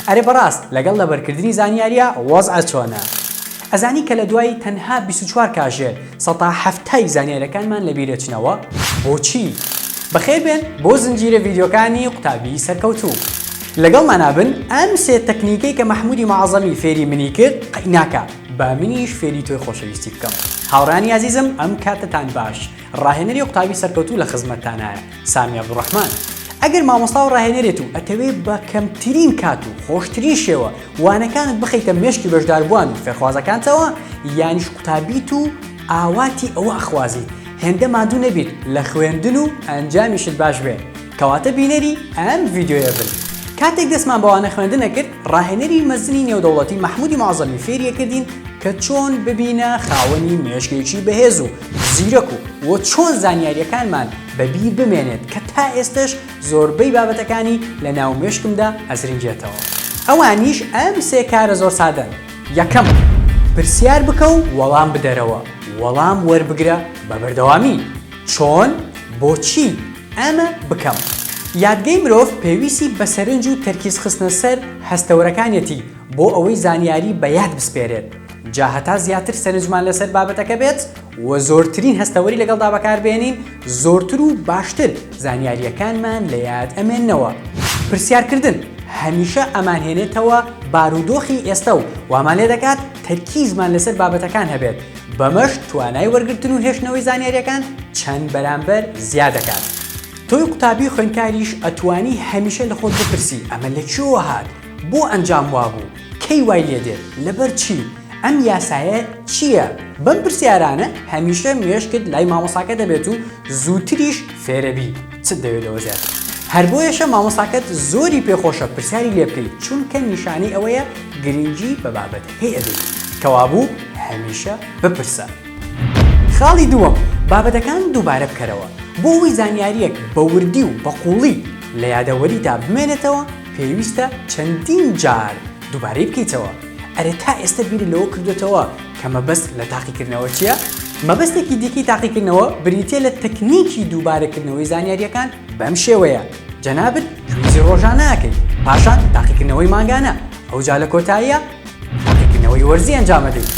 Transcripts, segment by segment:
ئەرێ بەڕاست لەگەڵ لەبەرکردنی زانیاریە وەزع چۆنە؟ ئەزانی کە لە دوای تەنها بیست و چوار کاژێر سەتا حەفتای زانیاریەکانمان لە بیرەچنەوە؟ بۆچی؟ بەخێربێن بۆ زنجیرە ڤیدیۆکانی قوتابی سەرکەوتوو. لەگەڵمانا بن ئەم سێ تەکنیکەی کە مەحمودی موعەزەمی فێری منی کرد قەیناکا با منیش فێری تۆی خۆشەویستی بکەم هاوڕێیانی ئازیزم ئەم کاتەتان باش. ڕاهێنەری قوتابی سەرکەوتوو لە خزمەتتانایە سامی عەبدوڕەحمان ئەگەر مامۆستا و ڕاهێنەرێت و ئەتەوێ بە کەمترین کات و خۆشترین شێوە وانەکانت بخەیتە مێشکی بەشداربووان و فێرخوازەکانتەوە یانیش قوتابیت و ئاواتی ئەوە ئەخوازی هێندە ماندوو نەبیت لە خوێندن و ئەنجامیشت باش بێ کەواتە بینەری ئەم ڤیدیۆیە بن کاتێک دەستمان بەوانە خوێندنە کرد ڕاهێنەری مەزنی نێودەوڵەتی مەحمودی معزەمی فێریەکردین کە چۆن ببینە خاوەنی مێشکێکی بەهێز و زیرەک و وە چۆن زانیاریەکانمان بە بیر بمێنێت کە تا ئێستەش زۆربەی بابەتەکانی لە ناو مێشکمدا ئەزرنگێتەوە ئەوانیش ئەم سێ کارە زۆر سادەن یەکەم پرسیار بکە و وەڵام بدەرەوە وەڵام وەربگرە بە بەردەوامی چۆن بۆچی ئەمە بکەم یادگەی مرۆڤ پێویستی بە سەرنج و تەرکیز خستنە سەر هەستەوەرەکانیەتی بۆ ئەوەی زانیاری بە یاد بسپێرێت جا هەتا زیاتر سەرنجمان لەسەر بابەتەکە بێت و زۆرترین هەستەوەری لەگەڵدا بەکاربێنین زۆرتر و باشتر زانیارییەکانمان لە یاد ئەمێنەوە پرسیارکردن هەمیشە ئەمانهێنێتەوە بارودۆخی ئێستا و وامان لێ دەکات تەرکیزمان لەسەر بابەتەکان هەبێت بەمەش توانای وەرگتن و هێشتنەوەی زانیاریەکان چەند بەرامبەر زیاد دەکات تۆی قوتابی خوێنکاریش ئەتوانی هەمیشە لە خۆت بپرسی ئەمە لە چۆوە هاات بۆ ئەنجام وابوو؟ کەی وای لێ دێت؟ لەبەر چی؟ ئەم یاسایە چییە؟ بەم پرسیارانە هەمیشە مێشکت لای مامۆساکە دەبێت و زووتریش فێرەبی چت دەوێت لەوە زیاتر. هەر بۆیەشە مامۆساکەت زۆری پێخۆشە پرسیاری لێ بکەیت چونکە نیشانەی ئەوەیە گرنگی بە بابەتەکەی ئەدەیت. کەوابوو هەمیشە بپرسە. خاڵی دووەم، بابەتەکان دووبارە بکەرەوە بۆ ئەوەی زانیارییەک بە وردی و بە قووڵی لە یادەوەریتا بمێنێتەوە، پێویستە چەندین جار دووبارەی بکەیتەوە. ئەرێ تا ئێستە بیرت لەوە کردووەتەوە کە مەبەست لە تاقیکردنەوە چییە؟ مەبەستێکی دیکەی تاقیکردنەوە بریتییە لە تەکنیکی دووبارەکردنەوەی زانیارییەکان بەم شێوەیە، جەنابت کویزی ڕۆژانە ئەکەیت، پاشان تاقیکردنەوەی مانگانە، ئەوجا لە کۆتاییا تاقیکردنەوەی وەرزی ئەنجام ئەدەیت.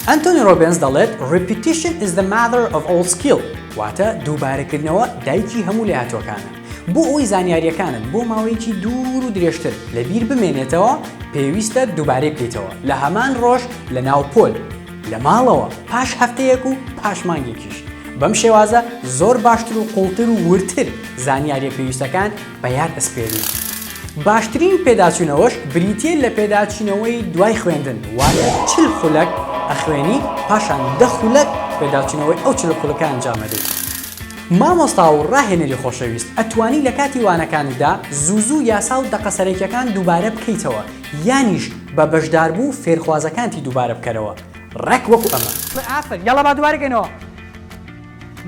ئەنتۆنی ڕۆبێنس دەڵێت، Repetition is the mother of all skill، واتە دووبارەکردنەوە دایکی هەموو لێهاتووەکانە. بۆ ئەوەی زانیاریەکانت بۆ ماوەیەکی دوور و درێژتر لە بیر بمێنێتەوە پێویستە دووبارەی بکەیتەوە لە هەمان ڕۆژ لە ناو پۆل لە ماڵەوە پاش هەفتەیەک و پاش مانگێکیش بەم شێوازە زۆر باشتر و قوڵتر و ورتر زانیاریە پێویستەکان بە یار ئەسپێرین. باشترین پێداچوونەوەش بریتیە لە پێداچوونەوەی دوای خوێندن واتە چل خولەک ئەخوێنی پاشان دە خولەک پێداچوونەوەی ئەو چل خولەکە ئەنجامەدەی. مامۆستا و ڕاهێنەری خۆشەویست ئەتوانی لە کاتی وانەکانتدا زوو زوو یاسا و دەقە سەرەکیەکان دووبارە بکەیتەوە یانیش بە بەشداربوو فێرخوازەکانتی دووبارە بکەرەوە ڕێک وەکو ئەمە. ئافەرین یاڵا با دووبارە کەینەوە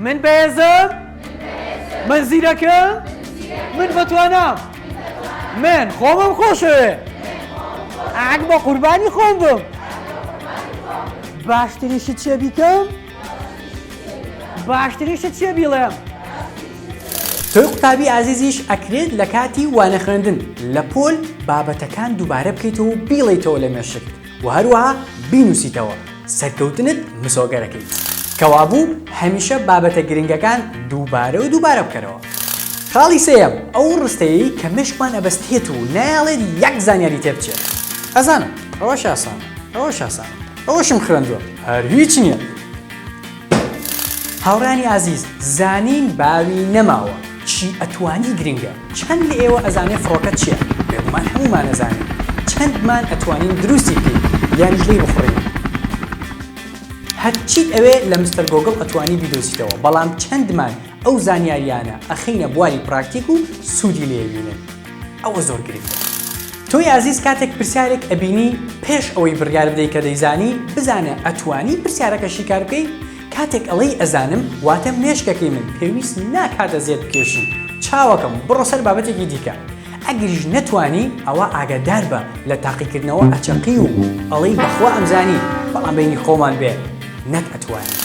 من بەهێزم من زیرەکم من بەتوانام من خۆمم خۆشەوێ ئەک بە قوربانی خۆم بم باشتریشت چێ بیکەم باشترین شت چیە بیڵێم؟ تۆی قوتابی ئازیزیش ئەکرێت لە کاتی وانە خوێندن لە پۆل بابەتەکان دووبارە بکەیتەوە و بیڵیتەوە لە مێشک و هەروەها بینوسیتەوە سەرکەوتنت مسۆگەرەکەیت کەوابوو هەمیشە بابەتە گرنگەکان دووبارە و دووبارە بکەرەوە خاڵی سێم ئەو ڕستەیە کە مشکمان ئەبەستێت و نایڵێت یەک زانیاری تێبچێت ئەزانم ئەوە شاسان ئەوە شاسان ئەوەشم خوێندوە هەر هیچ نییە. هاوڕێیانی ئازیز زانین باوی نەماوە چی ئەتوانی گرنگە چەند لە ئێوە ئەزانێ فڕۆکە چیە بێگومان هەموومان ئەزانین چەندمان ئەتوانین دروستی بکەین یانیش لێی بخوڕین هەرچیت ئەوێ لە مستەر گۆگڵ ئەتوانی بیدۆزیتەوە بەڵام چەندمان ئەو زانیاریانە ئەخەینە بواری پراکتیک و سوودی لێ بینن. ئەوە زۆر گرنگە تۆی ئازیز کاتێک پرسیارێک ئەبینی پێش ئەوەی بڕیار بدەی کە دەیزانی بزانە ئەتوانی پرسیارەکە شیکار بکەی کاتێک ئەڵێی ئەزانم واتە مێشکەکەی من پێویست ناکات ئەزیەت بکێشی چاوەکەم بڕۆ سەر بابەتێکی دیکە ئەگەریش نەتوانی ئەوە ئاگادار بە لە تاقیکردنەوە ئەچەقی و ئەڵێی بەخوا ئەمزانی بەڵام بینی خۆمان بێ نەک ئەتوانی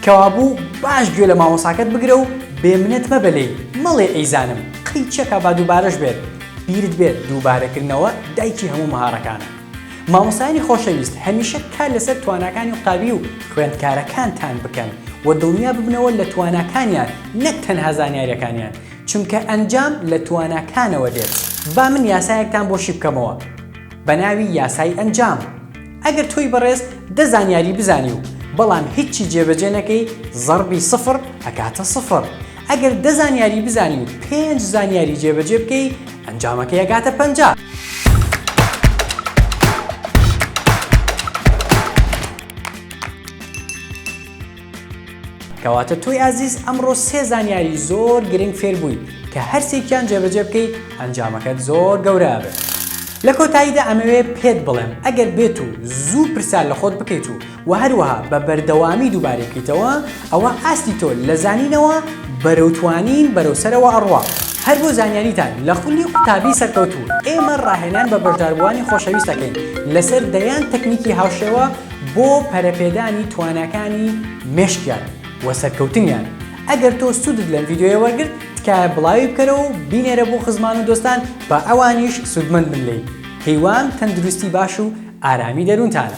کەوابوو باش گوێ لە مامۆساکەت بگرە و بێمنەت مەبە لێی مەڵێ ئەیزانم قەی چەکە با دووبارەش بێت بیرت بێت دووبارەکردنەوە دایکی هەموو مەهارەکانە مامۆسایانی خۆشەویست هەمیشە کار لەسەر تواناکانی قوتابی و خوێندکارەکانتان بکەن و دڵنیا ببنەوە لە تواناکانیان نەک تەنها زانیاریەکانیان چونکە ئەنجام لە تواناکانەوە دێت با من یاسایەکتان بۆ شیبکەمەوە بەناوی یاسای ئەنجام. ئەگەر تۆی بەڕێز دە زانیاری بزانی و بەڵام هیچی جێبەجێ نەکەی زەڕبی سفڕ ئەکاتە سفڕ ئەگەر دە زانیاری بزانی و پێنج زانیاری جێبەجێ بکەی ئەنجامەکەی ئەگاتە پەنجا. کەواتە تۆی ئازیز ئەمڕۆ سێ زانیاری زۆر گرنگ فێر بووی کە هەرسێکیان جێبەجێ بکەیت ئەنجامەکەت زۆر گەورە ئەبێت لە کۆتاییدا ئەمەوێ پێت بڵێم ئەگەر بێت و زوو پرسیار لە خۆت بکەیت و و هەروەها بە بەردەوامی دووبارەی بکەیتەوە ئەوە ئاستی تۆ لە زانینەوە بەرەو توانین بەرەو سەرەوە ئەڕوا هەر بۆ زانیاریتان لە خولی قوتابی سەرکەوتوو ئێمە ڕاهێنان بە بەشداربووانی خۆشەویست دەکەین لەسەر دەیان تەکنیکی هاوشێوە بۆ پەرەپێدانی تواناکانی مێشکیان و سەرکەوتنیان ئەگەر تۆ سوودت لەم ڤیددیوە وەرگرت تکایە بڵاوی بکەرەوە و بینێرە بۆ خزمان و دۆستان با ئەوانیش سوودمەند بن لێی هیوام تەندروستی باش و ئارامی دەروونتانە